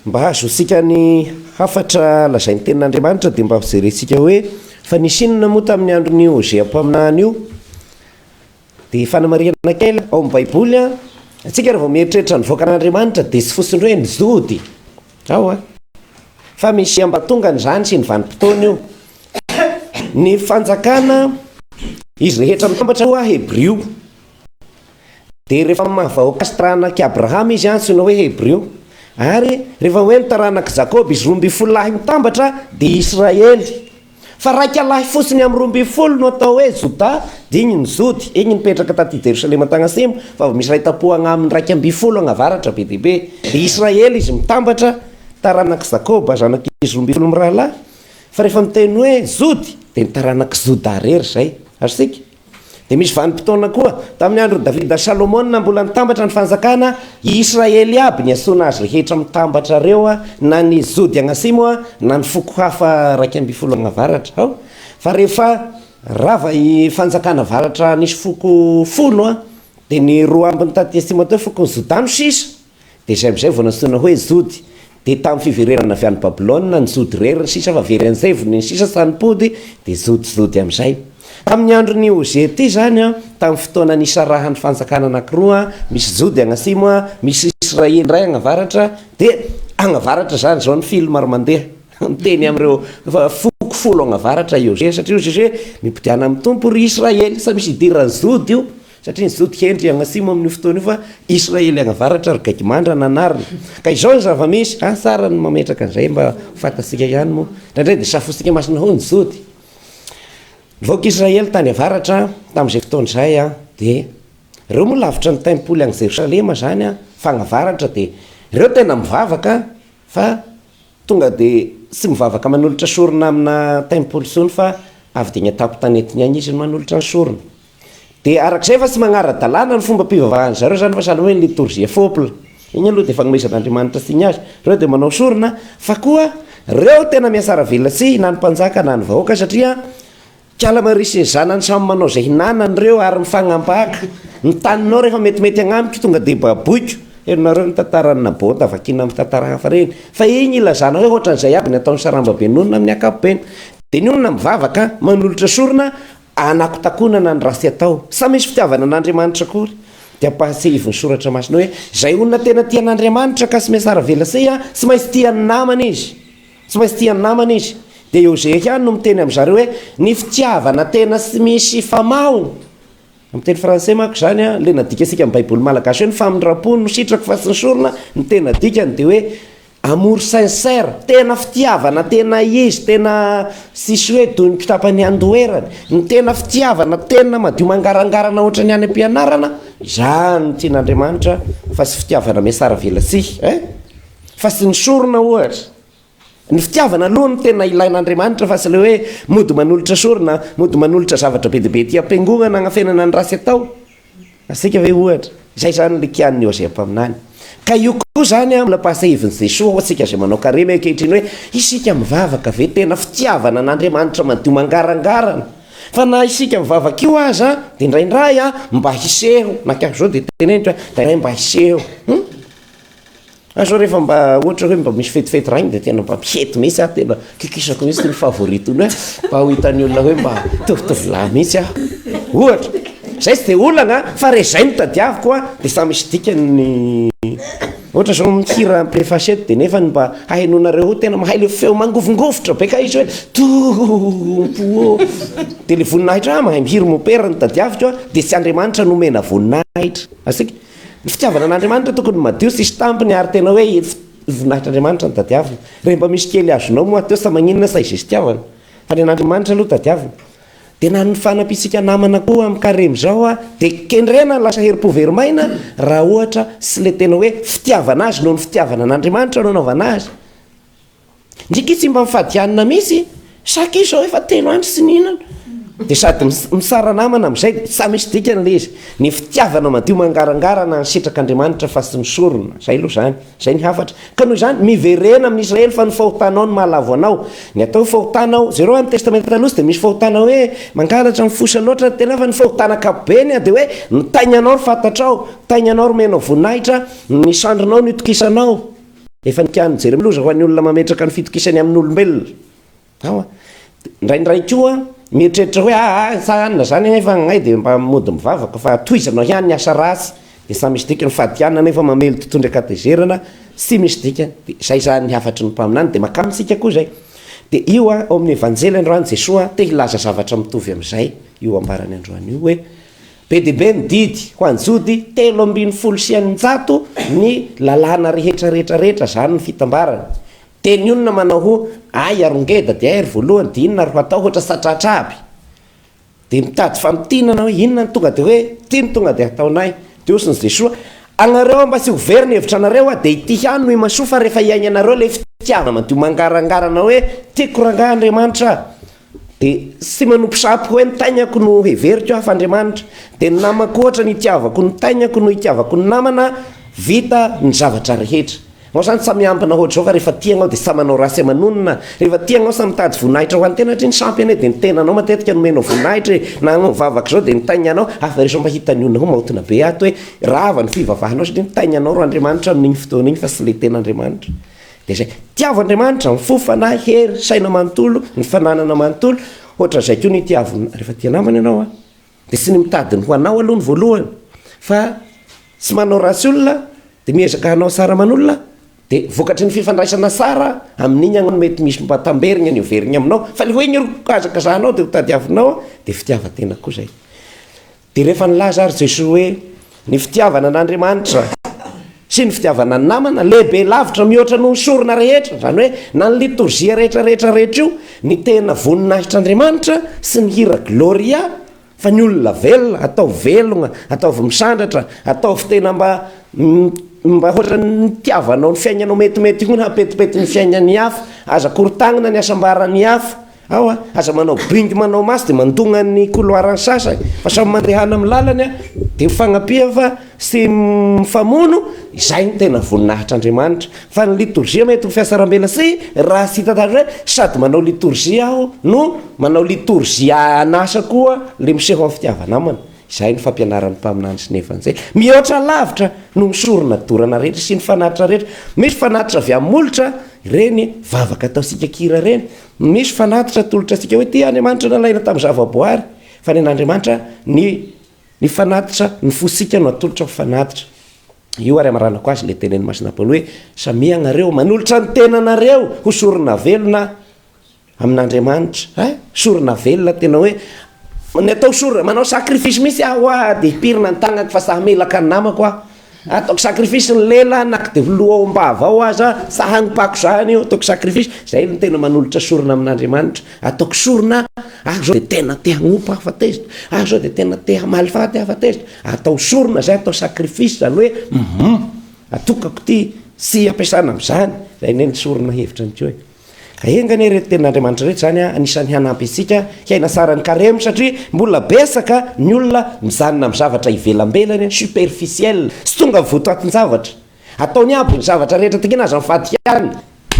Mba hahazoantsika ny hafatra lazain'ny Tenin'Andriamanitra dia mba hojerentsika hoe fa nisy inona moa tamin'ny andron'i Hosea mpaminany io. Dia fanamarihana kely, ao amin'ny Baiboly, antsika raha vao mieritreritra ny vahoakan'Andriamanitra dia tsy fotsiny hoe ny Jody ao an, fa misy ambatongany izany sy ny vanim-potoana io. Ny fanjakana, izy rehetra mitambatra ho Hebrio, Dia rehefa amin'ny maha vahoaka sy taranak'i Abrahama izy antsoina hoe Hebreo. Ary rehefa hoe ny taranak'i Jakoba izy roa ambin'ny folo lahy mitambatra dia Israely. Fa raika lahy fotsiny amin'ny roa ambin'ny folo no atao hoe Jodà, dia iny ny Jody, iny nipetraka taty Jerosalema an-tagnasimo, fa avy misy iray tam-po agnaminy raika ambin'ny folo agnavaratra be dia be. Dia Israely izy mitambatra, taranak'i Jakoba, zanak'izy roa ambin'ny folo mirahalahy. Fa rehefa miteny hoe Jody dia ny taranak'i Jodà rery izay. Azontsika? Dia misy vanim-potoana koa, tamin'ny andron'i Davida sy Salomona, mbola nitambatra ny fanjakana, i Israely iaby, nihasoana azy rehetra mitambatra ireo, na ny Zody agnasimo, na ny foko hafa iraika ambin'ny folo agnavaratra. Ao. Fa rehefa rava i fanjakana avaratra nisy foko folo, dia ny roa ambiny taty atsimo aty, fokon'i Zoda no sisa. Dia izay amin'izay vao nantsoina hoe Jody. Dia tamin'ny fiverenana avy any Babylona, ny Jody irery ny sisa, fa very an'izay vony ny sisa sa nipody, dia Jody, Jody amin'izay. Tamin'ny andron'i Ozia ity izany, tamin'ny fotoana nisarahan'ny fanjakana anankiroa, misy Jody agny atsimo, misy Israely indray agny avaratra, dia agny avaratra izany izao ny film ary mandeha, miteny amin'ireo foko folo agny avaratra i Ozia, satria hoy Ozia hoe, Mipodiana amin'ny Tompo, ry Israely, sa misy idiran'i Jody io? Satria ny Jody hendry hagnasimo amin'io fotoana io fa Israely agnavaratra ry Gaigimandra no anarany. Ka izao ny zava-misy, asa ara ny mametraka an'izay mba ho fantatsika ihany moa. Indraindray dia safointsika masina ho ny Jody. Ny vahoaka Israely tany avaratra tamin'izay fotoana izay dia ireo moa lavitra ny tempoly any Jerosalema izany fa any avaratra dia ireo tena mivavaka fa tonga dia tsy mivavaka manolotra sorona amina tempoly intsony fa avy dia any an-tampon-tanety ny any izy no manolotra ny sorona. Dia araka izay efa tsy magnara-dalàna ny fombam-pivavahan-dry zareo izany fa sahala hoe ny litorjia fopl. Iny aloha dia fanomezan'Andriamanitra signe azy. Ireo dia manao sorona fa koa ireo tena miasara velona tsy na ny mpanjaka na ny vahoaka satria kala marie sy ny zanany samy manao izay hinanany ireo ary mifagnambaka. Ny taninao rehefa metimety agnamiko tonga dia baboiko. Henonareo ny tantaran'i Naboth vakiana amin'ny tantara hafa ireny. Fa iny ilazana hoe ohatran'izay aby ny ataon'ny sarambabe nonina amin'ny ankapobeny. Dia ny olona mivavaka manolotra sorona Hanakotakonana ny ratsy atao. Samy misy fitiavana an'Andriamanitra akory. Dia ampahatsiahivin'ny Soratra Masina hoe, izay olona tena tia an'Andriamanitra ka smsara velasiy an, tsy maintsy tia ny namany izy. Tsy maintsy tia ny namany izy. Dia i Hosea ihany no miteny amin'i zareo hoe, ny fitiavana tena tsy misy famahony. Amin'ny teny frantsay manko izany an, ilay nadikasika amin'ny Baiboly malagasy hoe ny famindram-po no sitrako fa tsy ny sorona, ny tena dikany dia hoe, Amour sincère, tena fitiavana tena izy, tena tsisy hoe toy ny kitapan'i Andoherany, ny tena fitiavana tena madio mangarangarana ohatran'ny any am-pianarana, izany no tian'Andriamanitra fa tsy fitiavana miasaravelatsihy eh! fa tsy ny sorona ohatra, ny fitiavana aloha no tena ilain'Andriamanitra fa tsy ilay hoe mody manolotra sorona, mody manolotra zavatra be dia be aty am-piangonana hanafenana ny ratsy atao. Asika ve ohatra, izay izany le kian'ny Hosea mpaminany. Ka io koa izany an, nampiasa hevin'i Jesoa ho antsika izay manao karena io ankehitriny hoe, isika mivavaka ve tena fitiavana an'Andriamanitra madio mangarangarana? Fa na isika mivavaka io aza dia indraindray an, mba hiseho, na kay zao dia teneniko hoe, indraindray mba hiseho, hum. Fa zao rehefa mba ohatra hoe mba misy fetifety raha iny dia tena mba mihety mihitsy aho, tena kikisako mihitsy ny favoriton'ny hoe mba ho hitan'ny olona hoe mba mitovitovy lahy mihitsy aho, ohatra. Izay tsy dia olana an, fa raha izay no tadiaviko an, dia samy misy dikany ny, ohatra izao mihira preface eto dia nefany mba hahenoanareo hoe tena mahay ilay feo mangovingovitra be kay izy hoe tompo ô, dia ilay voninahitra, ah mahay mihira mopera no tadiaviko an, dia tsy Andriamanitra no omena voninahitra, azontsika? Ny fitiavana an'Andriamanitra tokony madio sy hisy tambiny ary tena hoe ef voninahitr'Andriamanitra no tadiavina. Raha mba misy kely azonao moateo sa maninona sa izay fitiavana. Fa ny an'Andriamanitra aloha tadiavina. Dia na ny fanampiantsika namana koa amin'ny karemy izao a, dia kendrena ny lasa herim-po very maina raha ohatra sy ilay tena hoe fitiavana azy noho ny fitiavana an'Andriamanitra no anaovana azy. Ndriky tsy mba mifadianina mihitsy sa k'io zao efa telo andro tsy nihinana? Dia sady misara namana amin'izay dia tsa misy dikany ilay izy. Ny fitiavana madio mangarangarana ny sitrak'Andriamanitra fa tsy misorona. Izay aloha izany. Izay ny hafatra. Ka noho izany, miverena amin'ny Israely fa ny fahotanao no mahalavo anao. Ny atao hoe fahotana ao, jereo amin'ny Testamenta Taloha tsy dia misy fahotana hoe mangalatra amin'ny fosa loatra ny tena fa ny fahotana ankapobeny dia hoe ny tainanao no fantatrao, tainanao no omenao voninahitra, ny sandrinao no itokisanao. Efa nikany jery loza ho an'ny olona mametraka ny fitokisany amin'ny olombelona ao a. Indraindray koa mieritreritra hoe ah ah sa anona zany anie fa agnay dia mba mody mivavaka fa tohizanao ihany ny asa ratsy dia sa misy dikany fa diana nefa mamely totohondry ankatezerana tsy misy dikany dia izay zany ny hafatry ny mpaminany dia makany amintsika koa izay dia io a ao amin'ny evanjely androany Jesoa te hilaza zavatra mitovy amin'izay io ambarany androany io hoe Be dia be ny didy ho an'ny Jody, telo ambin'ny folo sy eninjato ny lalàna rehetra rehetra rehetra, izany ny fitambarany. Teny inona manao ho Ay ary ngeda dia ay ry voalohany dia inona ary ho atao ohatra satratra aby. Dia mitady famintinana hoe inona no tonga dia hoe ity no tonga dia hataonay. Dia hozy ny Jesoa, anareo mba tsy ho very ny hevitra anareo hoa dia ity ihany no imasoa fa rehefa iainanareo ilay fitiavana madio mangarangarana hoe tiako rangah Andriamanitra a! Dia tsy manompo sampy hoe ny tainako no heveriko aho fa Andriamanitra. Dia ny namako ohatra ny itiavako ny tainako no itiavako ny namana vita ny zavatra rehetra. Ianao izany sa miambina ohatra izao fa rehefa tia ianao dia sa manao ratsy aman'onona? Rehefa tia ianao sa mitady voninahitra ho an'ny tena satria ny sampy anie dia ny tenanao matetika no omenao voninahitra e! Na anao mivavaka izao dia ny tainanao ary fa rehefa mahita ny olona maotina be ato hoe rava ny fivavahanao satria ny tainanao ro Andriamanitra amin'iny fotoana iny fa tsy ilay tena Andriamanitra. Dia izay. Tiavo Andriamanitra, ny fo, fanahy, hery, saina manontolo, ny fananana manontolo, hoatran'izay koa no itiaviny na, rehefa tia namana ianao an, dia tsy ny mitady ny ho anao aloha no voalohany, fa tsy manao ratsy olona, dia miezaka hanao tsara aman'olona, dia vokatry ny fifandraisana tsara, amin'iny aho no mety misy mba tamberina ny hoveriny aminao, fa ilay hoe ny hazakazahanao dia hotadiavinao an, dia fitiavan-tena koa izay. Dia rehefa nilaza ary Jesoa hoe, Ny fitiavana an'Andriamanitra sy ny fitiavana ny namana lehibe lavitra mihoatra noho ny sorona rehetra, izany hoe na ny litorzia rehetra rehetra rehetra io, ny tena voninahitr'Andriamanitra sy ny hira Gloria, fa ny olona velona, ataovy velogna, ataovy misandratra, ataovy tena mba mba hoatran'ny nitiavanao ny fiaignanao metimety ihony hampetipety ny fiaignan'ny hafa, aza korotagnina ny hasambaran'ny hafa, Ao a! Aza manao bingo manao maso dia mandona ny couloir ny sasany fa samy mandehana amin'ny lalany a! Dia ho fagnampihany fa tsy mifamono, izay no tena voninahitr'Andriamanitra. Fa ny litorjia mety ho fiasarambela sy raha tsy hitantaratra hoe sady manao litorjia aho no manao litorjia an'asa koa le miseho amin'ny fitiava namana. Izay no fampianaran'ny mpaminany sy ny Evanjely. Mihoatra lavitra noho ny sorona dorana rehetra sy ny fanatitra rehetra. Misy fanatitra avy amin'ny molotra, ireny vavaka ataontsika kira ireny, Misy fanatitra atolotra antsika hoe tia Andriamanitra nalaina tamin'ny zavaboary, fa ny an'Andriamanitra ny ny fanatitra ny fosika no atolotra ho fanatitra. Io ary amaranako azy ilay tenin'ny Masina Paoly hoe samia ianareo manolotra ny tenanareo ho sorona velona amin'Andriamanitra. Eh? Sorona velona tena hoe ny atao sorona manao sacrifice mihitsy aho hoa dia hipirina ny tagnako fa saha melaka ny namako aho Ataoko sacrifice ny lela na k'de filoha ao ampahavao aza sa hanimpako zany io ataoko sacrifice zay no tena manolotra sorona amin'Andriamanitra ataoko sorona aho zao de tena te hanompo aho fa tezitra aho zao de tena te hamaly faty aho fa tezitra atao sorona zay atao sacrifice zany hoe hum atokako ty tsy ampiasana amzany zay anie ny sorona hevitra ny ko e. Enga anie ireto tenin'Andriamanitra ireto izany anisan'ny hanampy antsika hiaina tsara ny karemy satria mbola betsaka ny olona mijanona amin'ny zavatra ivelambelany, superficiel, tsy tonga voto atin-javatra. Ataony aby ny zavatra rehetra tiany aza mifadikany,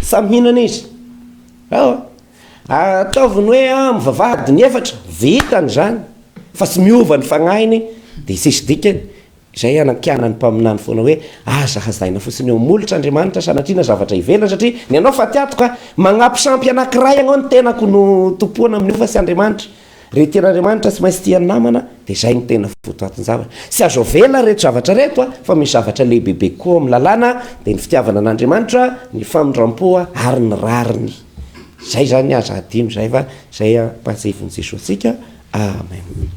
sa mihinana izy? Aoa. Ataovy ny hoe mivavaha adiny efatra, vitany izany fa tsy miova ny fagnahiny dia tsisy dikany. Izay hanankianan'ny mpaminany foana hoe, Aza hazaina fotsiny eo molotra Andriamanitra sanatria na zavatra ivelany, satria ny anao fa tiatoka, magnampy sampy anankiray agnao ny tenako no tompoana amin'io fa tsy Andriamanitra. Re tian'Andriamanitra tsy maintsy tian'ny namana dia izay no tena votoatin-javatra. Tsy azo avela ireto zavatra ireto fa misy zavatra lehibebe koa ao amin'ny lalàna dia ny fitiavana an'Andriamanitra, ny famindram-po ary ny rariny. Izay izany aza hadino izay fa izay ampahatsiahivin'i Jesoa antsika. Amen.